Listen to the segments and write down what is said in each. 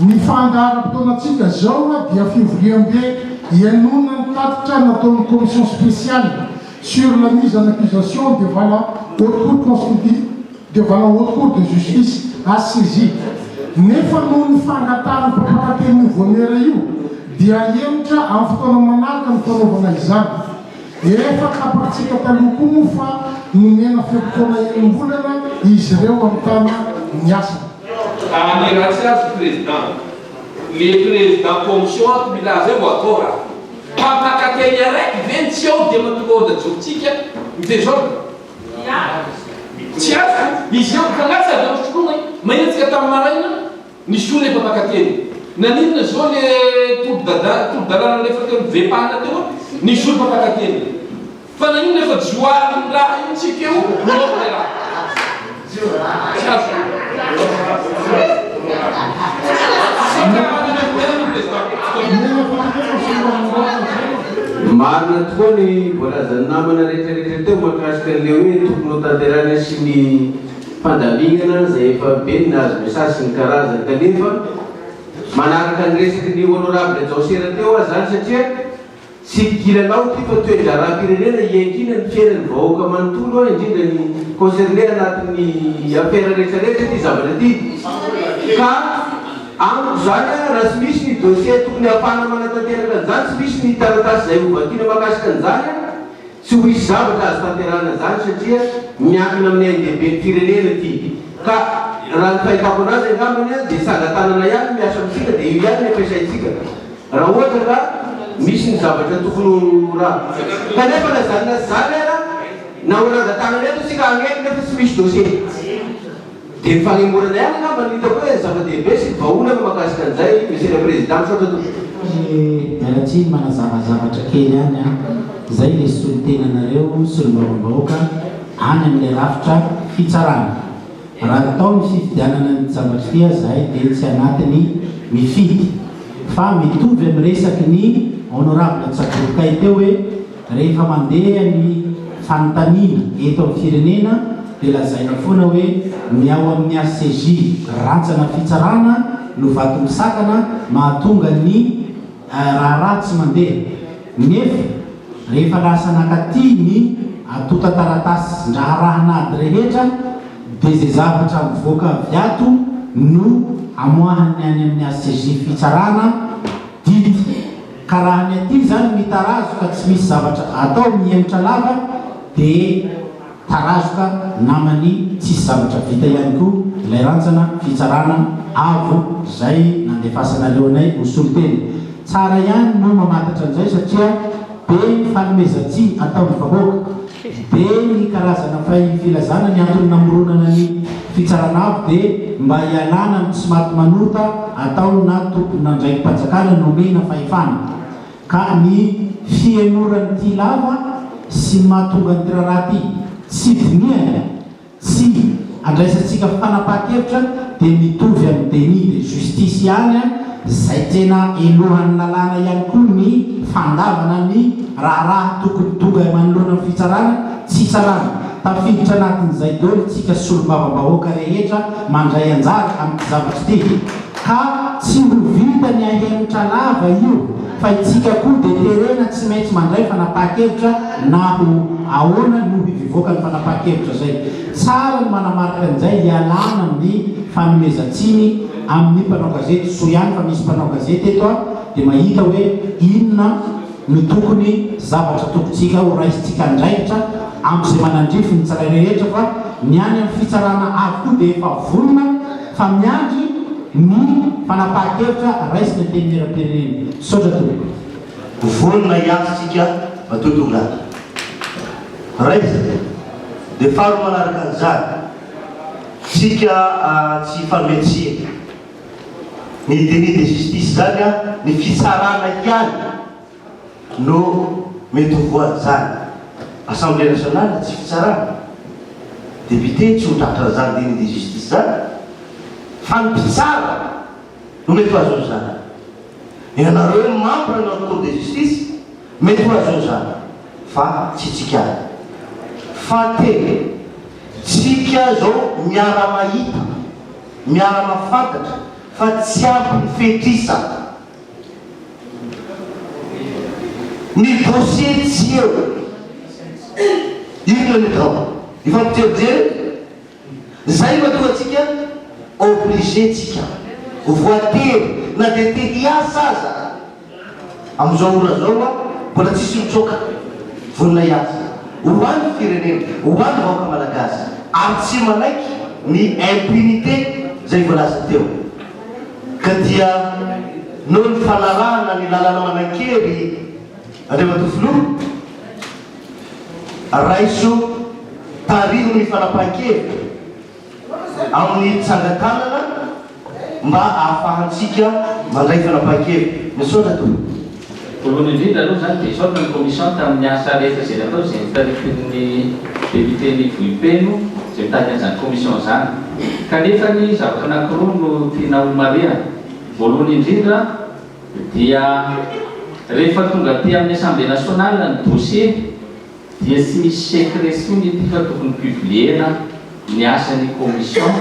Ny fandaharam-potoanantsika izao dia fivoriambe ihainoana ny tatitra nataon'ny Commission spéciale sur la mise en accusation devant la Haute Cour constitu-, devant la Haute Cour de Justice, HCJ. Nefa noho ny fangatahan'ny mpampakateny io vaomiera io dia hahemotra amin'ny fotoana manaraka ny fanaovana izany. Efa tapakintsika taloha koa moa fa nomena fe-potoana enim-bolana izy ireo hamitana ny asany. Raha ny ratsy azy ny président. Le président commission ato milaza eo mba atao raha. Mpampaka teny araiky ve ny tsy ao dia mahatonga ordre ajorotsika ny desordre? Tsy azoko, izy ireo ka lasa avy eo misoloma e! Mahetsika tamin'ny maraina nisolo ilay mpampaka teny. Naninona izao ilay tolo-dada, tolo-dalana nalefa teo amin'ny vem-pahana teo an? Nisolo mpampaka teny. Fa na inona fa joara ny raha io tsy feo no operahy. Marina tokoa ny voalazan'ny namana retraretra teo mahakasika an'le hoe tokony ho tanterahina sy ny fandaminana izay efa be ny nahazo message sy ny karazany kanefa manaraka ny resaky ny honorable Jaosera teo aho zany satria Tsy kilalao ity fa toe-draharaham-pirenena iankiana ny fiainan'ny vahoaka manontolo an, indrindra ny concerner anatin'ny affaire rehetra rehetra ity zavatra ity ka amiko izany an raha tsy misy ny dossier tokony hahafahana manatanteraka an'izany, tsy misy ny taratasy izay hovakiana mahakasika an'izany an, Tsy ho hisy zavatra azo tanterahana izany satria miankina amin'ny ain-dehibe ny firenena ity ka raha ny fahitako anazy angambany an dia saga tanana ihany no miasa amintsika dia io ihany ny ampiasaintsika raha ohatra ka misy ny zavatra tokony ho ra kanefa na izany na izany ara na ho ranga tanana eto isika hagneno nefa tsy misy dossier Dia ny fanemorana ihany angamba no hitako hoe zava-dehibe sy vahaolana mahakasika an'izay, Monsieur le Président, misaotra tompoko. Miala tsiny manazava zavatra kely ihany an! Izay ilay solontenanareo, solombavambahoaka, any amin'ilay rafitra fitsarana. Raha natao ny fifidianana an'ity zavatra ity aza izahay dia tsy anatiny mifidy. Fa mitovy amin'ny resaky ny Honorable Tsagorokay teo hoe, Rehefa mandeha ny fanontaniana eto amin'ny firenena dia lazaina foana hoe ny ao amin'ny HCJ rantsana fitsarana no vato misakana mahatonga ny raharaha tsy mandeha nefa rehefa lasa nakaty ny antotan-taratasin-draharahan'ady rehetra dia izay zavatra mivoaka avy ato no amoahany any amin'ny HCJ fitsarana dity Ka raha ny aty zany mitarazo ka tsy misy zavatra atao mihemotra lava de tarazo ka namany tsisy zavatra vita ihany ko ilay rantsana fitsarana avo zay nandefasanareo anay ho solontena tsara ihany no mamatatra anizay satria be ny fanomezantsihy ataony vahoaka Be ny karazana fay ny filazana ny antony namoronana ny fitsarana avo dia mba hialana amin'ny tsy maty manota atao na tomponandraiki-panjakana nomena fahefana ka ny fihenoran'ity lava sy ny mahatonga an'ity raharaha ity tsy dinihana Tsy andraisantsika fanapahan-kevitra dia mitovy amin'ny déni de justice ihany izay tena helohan'ny lalàna ihany koa ny fandavana ny raharaha tokony tonga manoloana ny fitsarana tsy hitsarana. Tafiditra anatin'izay daholo isika solombavambahoaka rehetra mandray anjara amin'ity zavatra ity. Ka tsy ho vita ny ahemotra lava io fa itsika koa dia terena tsy maintsy mandray fanapahan-kevitra na ho ahoana no hivivoaka ny fanapahan-kevitra izay. Tsara ny manamarika an'izay hialana amin'ny fanomezan-tsiny amin'ny mpanao gazety soa ihany fa misy mpanao gazety eto an dia mahita hoe inona no tokony zavatra tokontsika ho raisintsika andraikitra amin'izay manandrify ny tsirairehetra fa ny any amin'ny fitsarana avokoa dia efa vonona fa miandry ny fanapahan-kevitra raisin'ny Antenimieram-pirenena. Misaotra tompoko. Vonona hiato tsika matoa tonga ato. Raisina. Dia faharoa manaraka an'izany, tsika tsy hifanome tsiny. Ny déni de justice izany, ny fitsarana ihany no mety ho voan'izany? Assemblée nationale tsy fitsarana? Député tsy ho tratran'izany déni de justice izany? Fa ny mpitsara no mety ho azon'ny zanany? Ianareo membres na cour de justice mety ho azon'ny zanany fa tsy tsikara. Fahatelo, tsika zao miara-mahita, miara-mafantatra fa tsy ampy ny fetrisa. Ny dossier tsy eo. Inona ny atao? Mifampijerijery? Zay matoa antsika obligé tsika, voatery na dia te hiasa aza. Amin'izao ora zao hoa mbola tsisy mitsoaka vonona hiasa ho an'ny firenena, ho an'ny vahoaka malagasy ary tsy manaiky ny impunité zay voalaza teo. Ka dia noho ny fanarahana ny lalana manan-kery Andriamatoa Filoha, raiso tariho ny fanapahan-kevitra amin'ny tsangan-tanana mba ahafahantsika mandray fanapahan-kevitra. Misaotra Tompo. Voalohany indrindra aloha izany dia hisaotra ny commission tamin'ny asa rehetra izay natao izay notaritin'ny député Mivohipeno izay mitady an'izany commission izany. Kanefa anie zavatra anankiroa no tiana homarihana. Voalohany indrindra dia rehefa tonga aty amin'ny assemblée nationale ny dossier, dia tsy misy secret intsony ity fa tokony publier-na ny asan'ny commission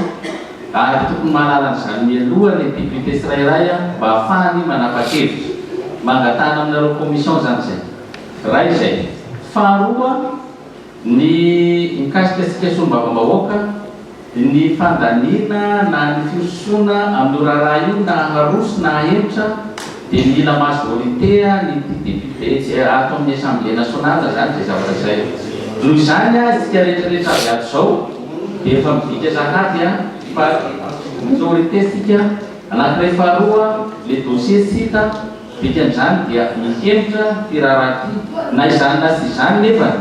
ary tokony mahalala an'izany mialoha ny député tsirairay mba hahafahany manapa-kevitra. Mangatahana aminareo commission izany izay. Iray izay. Faharoa, ny mikasika antsika solombavambahoaka, Ny fandaniana na ny firosoana amin'io raharaha io na haroso na hahemotra dia mila majorite an'ity député tsy ato amin'ny assemblée nationale izany izay zavatra izay. Noho izany aho isika rehetrarehetra avy ato izao dia efa midika sahady fa minorite isika anankiray faharoa le dossier tsy hita dikan'izany dia mihemotra ity raharaha ity na izany na tsy izany nefany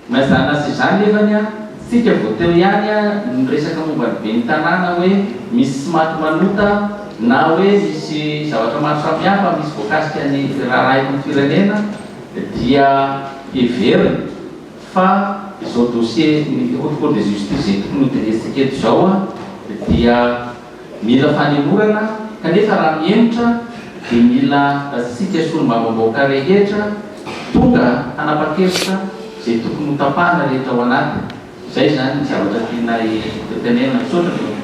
Na izany aza izany nefany an, tsika vao teo ihany an no niresaka momba ny ben'ny tanàna hoe misy tsy maty manota na hoe misy zavatra maro samihafa misy voakasika ny raharaha eto amin'ny firenena dia heverina fa izao dossier ny haute cour de justice izay tokony hojeretsika eto izao an dia Mila fanemorana kanefa raha mihemotra dia mila antsika solombavambaoka rehetra tonga hanapa-kevitra izay tokony ho tapahana rehetra ao anatiny. Izay izany ny zavatra tianay hotenenina. Misaotra ny Tompo.